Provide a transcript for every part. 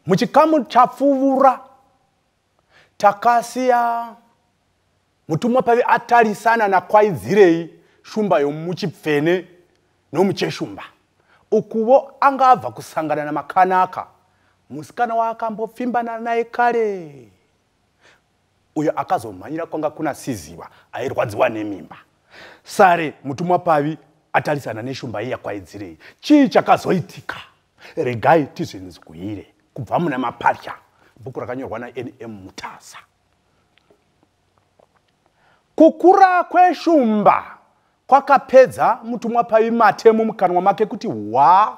muchikamu chapfuvura takasiya mutumwa pave atarisana nakwaidzirei shumba yomuchipfene nomucheshumba ukuvo anga abva kusangana namakanaka musikana waakambopfimbana naye kare uyo akazomhanyira kwanga kuna siziva airwadziwa nemimba sare mutumwa pavi atarisana neshumba iya kwaidzirei chii chakazoitika regai tizvinzwire kubva muna mapatya bhuku rakanyorwa nanm mutasa kukura kweshumba kwakapedza mutumwa pavi mate mumukanwa make kuti hwa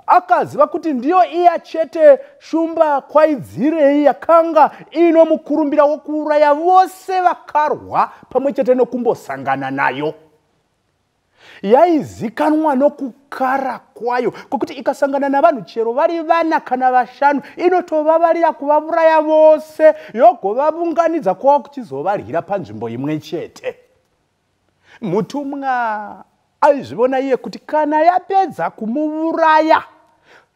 akaziva kuti ndiyo iya chete shumba kwaidzirei yakanga iino mukurumbira wokuuraya vose vakarwa pamwe chete nokumbosangana nayo yaizikanwa nokukara kwayo kwekuti ikasangana navanhu chero vari vana kana vashanu inotovavarira kuvavuraya vose yogovavunganidza kwava kuchizovarwira panzvimbo imwe chete mutumwa aizvivona iye kuti kana yapedza kumuvuraya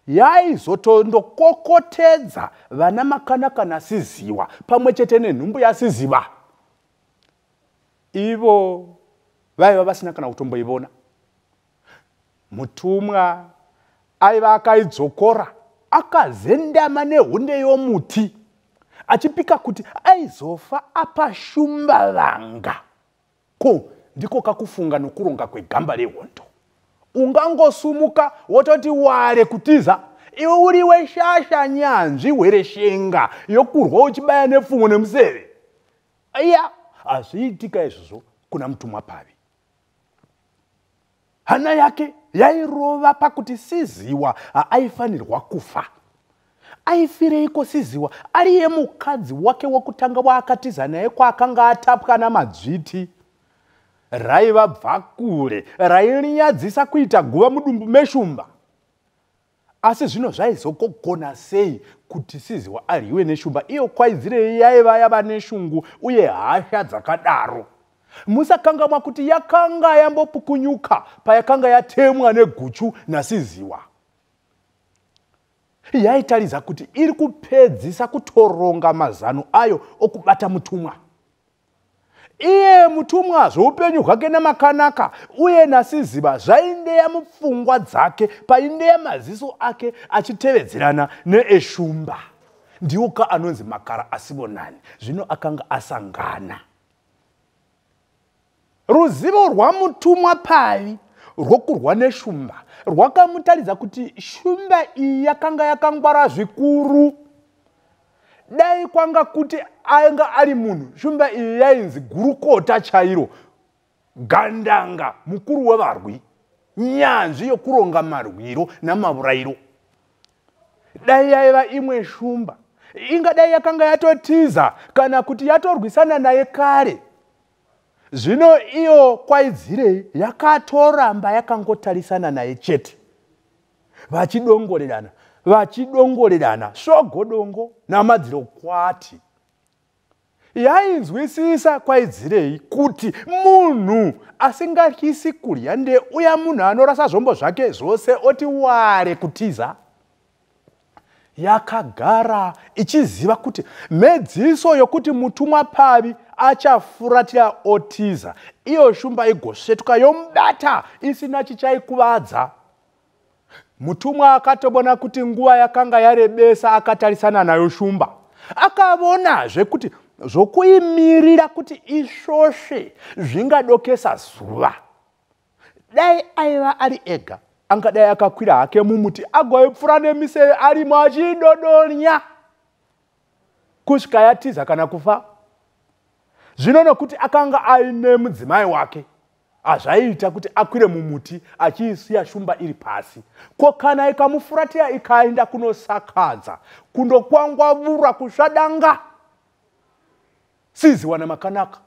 yaizotondokokotedza vana makanaka nasiziwa pamwe chete nenhumbu yasiziva ivo vaiva vasina kana kutomboivona mutumwa aiva akaidzokora akazendama nehunde yomuti achipika kuti aizofa apashumba vanga ko ndiko kakufunga nokuronga kwegamba rehondo ungangosumuka wototi ware kutiza iwe uri weshasha nyanzvi hwereshenga yokurwa uchibaya nepfumo nemuseve iya hazviitika izvozvo kuna mutumwa pavi hana yake yairova pakuti siziwa haaifanirwa kufa aifireiko siziwa ariye mukadzi wake wokutanga waakatiza naye kwaakanga atapwa namadzviti raiva bvakure railinyadzisa kuita guva mudumbu meshumba Asi zvino zvaizogogona sei kuti Siziwa aryiwe neshumba iyo kwaidzirei yaiva yava neshungu uye hasha dzakadaro? Musakangamwa kuti yakanga yambopukunyuka payakanga yatemwa neguchu naSiziwa. Yaitaridza kuti iri kupedzisa kutoronga mazano ayo okubata mutumwa. iye mutumwa zvoupenyu hwake namakanaka uye nasiziva zvaindeya mupfungwa dzake paindeya maziso ake achitevedzerana neeshumba ndiwo ka anonzi makara asivonani zvino akanga asangana Ruzivo rwamutumwa pavi rwokurwa neshumba rwakamutaridza kuti shumba iyi yakanga yakangwara zvikuru. Dai kwanga kuti anga ari munhu, shumba iyi yainzi gurukota chairo, gandanga, mukuru wevarwi, nyanzvi yokuronga marwiro namavurayiro. Dai yaiva imwe shumba, ingadai yakanga yatotiza kana kuti yatorwisana naye kare. zvino iyo kwaidzirei yakatoramba yakangotarisana naye chete vachidongorerana vachidongorerana svogodongo namadziro kwati yainzwisisa kwaidzirei kuti munhu asingatyisi kudya ndeuya munhu anorasa zvombo zvake zvose oti ware kutiza yakagara ichiziva kuti mhedziso yokuti mutumwa pavi achafuratira otiza iyo shumba igosvetuka yomubata isina chichaikuvadza mutumwa akatobona kuti nguva yakanga yarebesa akatarisana nayo shumba akavonazve kuti zvokuimirira kuti isvosve zvingadokesa zuva dai aiva ari ega angadai akakwira hake mumuti agoipfura nemiseve arimo achidodonya kusvika yatiza kana kufa zvino nokuti akanga aine mudzimai wake hazvaiita kuti akwire mumuti achiisiya shumba iri pasi ko kana ikamufuratira ikaenda kunosakadza kundokwangwavura kusvadanga Siziwa na Makanaka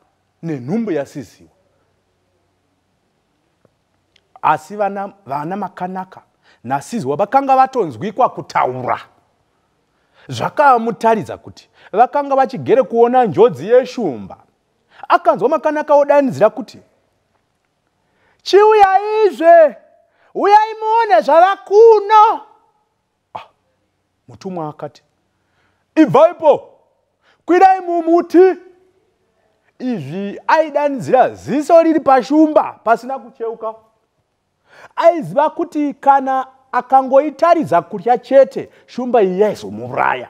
nenhumbu yaSiziwa. Asi vana, vana Makanaka naSiziwa vakanga vatonzwikwa kutaura. Zvakamutaridza kuti vakanga vachigere kuona njodzi yeshumba. Akanzwa Makanaka odanidzira kuti, Chiuyaizve, uyai muone zvava kuno. ah, mutumwa akati ibvaipo kwirai mumuti izvi aidanidzira ziso riri pashumba pasina kucheuka aiziva kuti kana akangoitaridza kutya chete shumba iyi yaizomuraya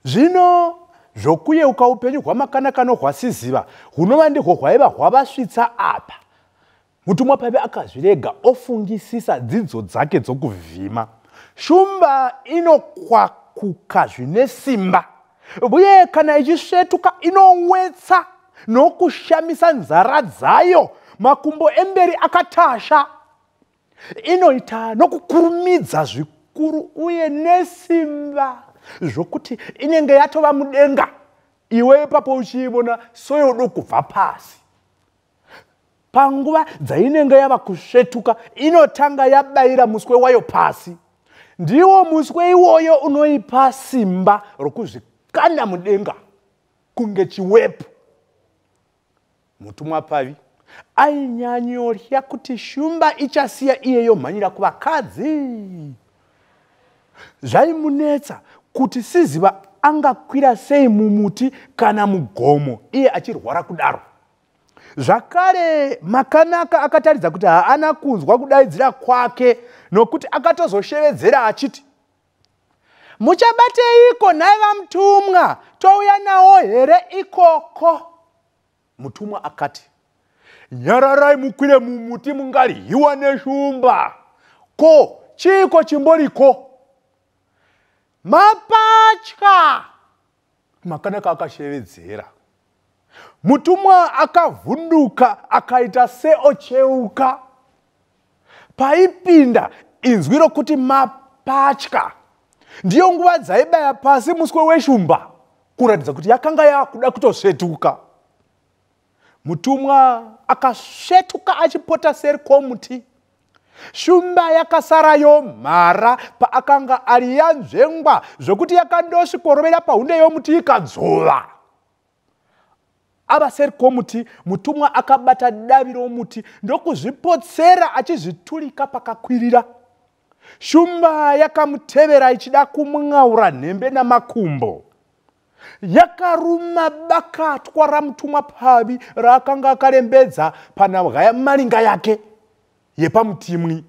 zvino zvokuyeuka upenyu hwamakanaka nohwasiziva hunova ndihwo hwaiva hwavasvitsa apa mutumwa paive akazvirega ofungisisa dzidzo dzake dzokuvhima shumba inokwakuka zvine simba uye kana ichisvetuka inowetsa nokushamisa nzara dzayo makumbo emberi akatasha inoita nokukurumidza zvikuru uye nesimba zvokuti inenge yatova mudenga iwe ipapo uchiivona soyodo kubva pasi panguva dzainenge yava kusvetuka inotanga yabayira muswe wayo pasi ndiwo muswe iwoyo unoipa simba rokuzvikanda mudenga kunge chiwepu mutumwa pavi ainyanyorya kuti shumba ichasiya iye yomhanyira kuvakadzi zvaimunetsa kuti siziva angakwira sei mumuti kana mugomo iye achirwara kudaro zvakare makanaka akataridza kuti haana kunzwa kudaidzira kwake nokuti akatozoshevedzera achiti muchabateiko nhai vamutumwa touya nawo here ikoko mutumwa akati nyararai mukwire mumuti mungaryiwa neshumba ko chiiko chimboriko mapatya Makanaka akashevedzera. Mutumwa akavhunduka akaita seocheuka. Paipinda inzwi rokuti mapatya. Ndiyo nguva dzaibaya pasi muswe weshumba kuratidza kuti yakanga yakuda kutosvetuka. Mutumwa akasvetuka achipota seri kwomuti. Shumba yakasara yomhara paakanga ari yanzvengwa zvokuti yakandosvikorovera pahunde yomuti ikadzvova. Ava seri kwomuti, mutumwa akabata davi romuti ndokuzvipotsera achizviturika pakakwirira. Shumba yakamutevera ichida kumwaura nhembe namakumbo. yakaruma bakatwa ramutumwa pfavi raakanga akarembedza panabwa yamalinga yake yepamutimwi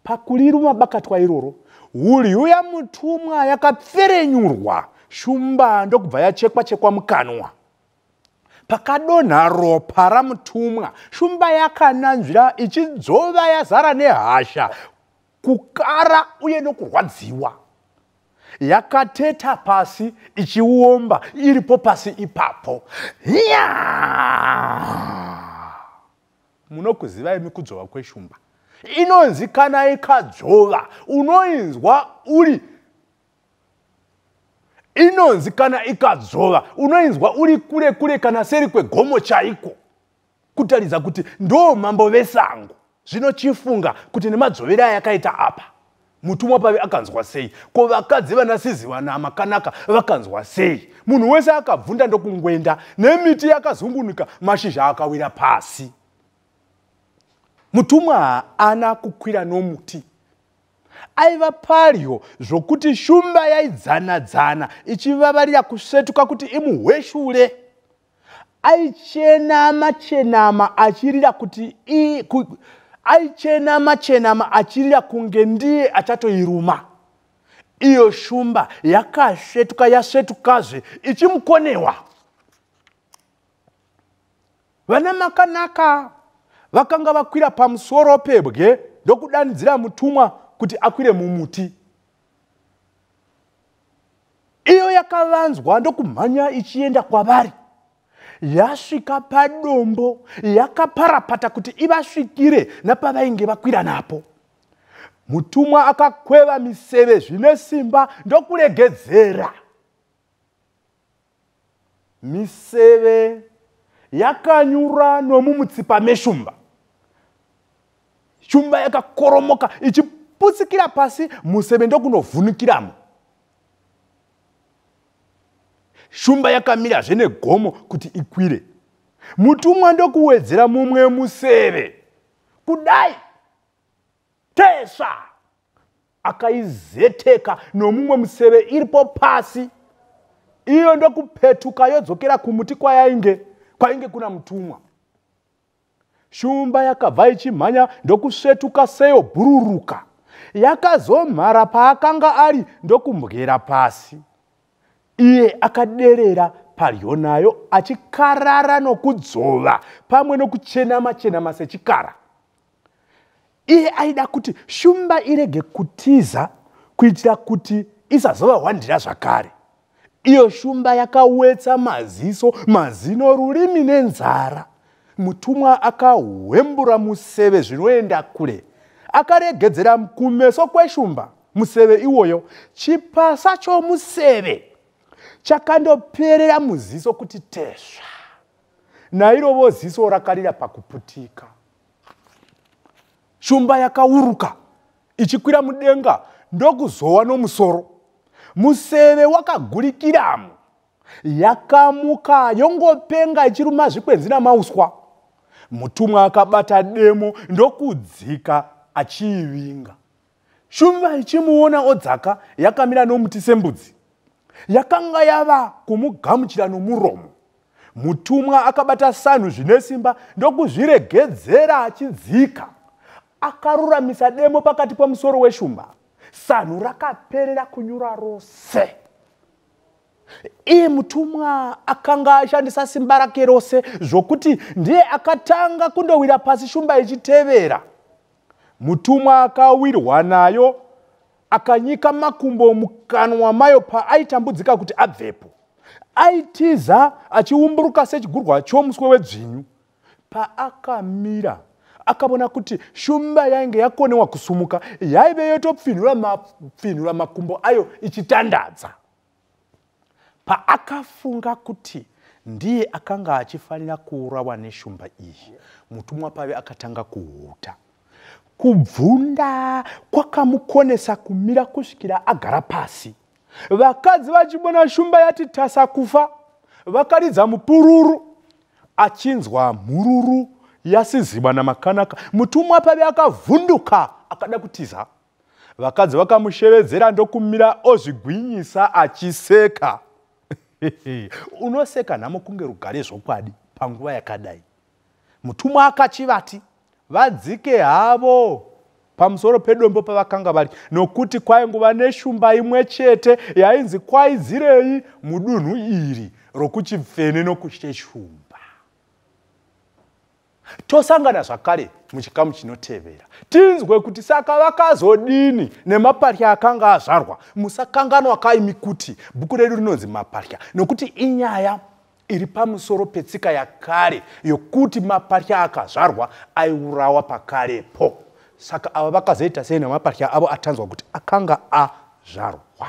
pakuriruma bakatwa iroro hulyu yamutumwa yakapferenyurwa shumba ndokubva yachekwa chekwa mukanwa pakadonha ropa ramutumwa shumba yakananzvira ichidzova yazara nehasha kukara uye nokurwadziwa yakateta pasi ichiomba iripo pasi ipapo hiya munokuzivai mikudzvova kweshumba inonzi kana ikadzvova unoinzwa uri inonzi kana ikadzvova unoinzwa uri kure kure kana seri kwegomo chaiko kutaridza kuti ndoo mambo vesango zvino chifunga kuti nemadzvovere ayakaita apa mutumwa pave akanzwa sei ko vakadzi vana sizi vana makanaka vakanzwa sei munhu wese akabvunda ndokungwenda nemiti yakazungunuka mashizha akawira pasi mutumwa haana kukwira nomuti aiva padyo zvokuti shumba yaidzana dzana ichivavarira kusvetuka kuti imuhweshure aichenama chenama achirira kuti i ku, aichenama chenama achirira kunge ndiye achatoiruma iyo shumba yakasvetuka yasvetukazve ichimukonewa vana makanaka vakanga vakwira pamusoro pebwe ndokudanidzira mutumwa kuti akwire mumuti iyo yakavanzwa ndokumhanya ichienda kwavari yasvika padombo yakaparapata kuti ivasvikire napavainge vakwira napo mutumwa akakweva miseve zvine simba ndokuregedzera miseve yakanyura nomumutsipa meshumba shumba yakakoromoka ichiputsikira pasi museve ndokunovhunikiramo shumba yakamira zvene gomo kuti ikwire mutumwa ndokuwedzera mumwe museve kudai tesva akaizeteka nomumwe museve iripo pasi iyo ndokupetuka yodzokera kumuti kwayainge kwainge kuna mutumwa shumba yakabva ichimhanya ndokusvetuka seyo bhururuka yakazomhara paakanga ari ndokumbwera pasi iye akaderera padyo nayo achikarara nokudzova pamwe nokuchenama chenama sechikara iye aida kuti shumba irege kutiza kuitira kuti isazova hwandira zvakare iyo shumba yakawetsa maziso mazino rurimi nenzara mutumwa akahwembura museve zvinoenda kure akaregedzera kumeso kweshumba museve iwoyo chipasa chomuseve chakandoperera muziso kuti tesva nairovo ziso rakarira pakuputika shumba yakauruka ichikwira mudenga ndokuzowa nomusoro museve wakagurikiramo yakamuka yongopenga ichiruma zvikwenzi namauswa mutumwa akabata demo ndokudzika achiivinga Shumba ichimuona odzaka yakamira nomuti sembudzi. Yakanga yava kumugamuchira nomuromo. Mutumwa akabata sanhu zvine simba ndokuzviregedzera achidzika. Akaruramisa demo pakati pomusoro weshumba. Sanhu rakaperera kunyura rose. Iye mutumwa akanga ashandisa simba rake rose zvokuti ndiye akatanga kundowira pasi shumba ichitevera. Mutumwa akawirwa nayo akanyika makumbo mukanwa mayo paaitambudzika kuti abvepo. Aitiza achiumburuka sechigurwa chomuswe wedzvinyu. Paakamira akavona kuti shumba yainge yakonewa kusumuka yaive yotopfinhura mapfinhura makumbo ayo ichitandadza. Paakafunga kuti ndiye akanga achifanira kuurawa neshumba iyi, mutumwa pave akatanga kuhuta. Kubvunda kwakamukonesa kumira kusvikira agara pasi. Vakadzi vachibona shumba yati tasa kufa, vakaridza mupururu achinzwa mhururu yasiziba namakanaka. Mutumwa pave akavhunduka akada kutiza. vakadzi vakamushevedzera ndokumira ozvigwinyisa achiseka unoseka nhamo kunge rugare zvokwadi panguva yakadai mutumwa akachivati vadzike havo pamusoro pedombo pavakanga vari nokuti kwainguva neshumba imwe chete yainzi kwaidzirei mudunhu iri rokuchipfene nokusheshumba tosangana zvakare muchikamu chinotevera tinzwe kuti saka vakazodini nemaparya akanga azvarwa musakanganwa kaimi kuti bhuku redu rinonzi maparya nokuti inyaya iri pamusoro petsika yakare yokuti maparya akazvarwa aiurawa pakarepo saka ava vakazoita sei nemaparya avo atanzwa kuti akanga azvarwa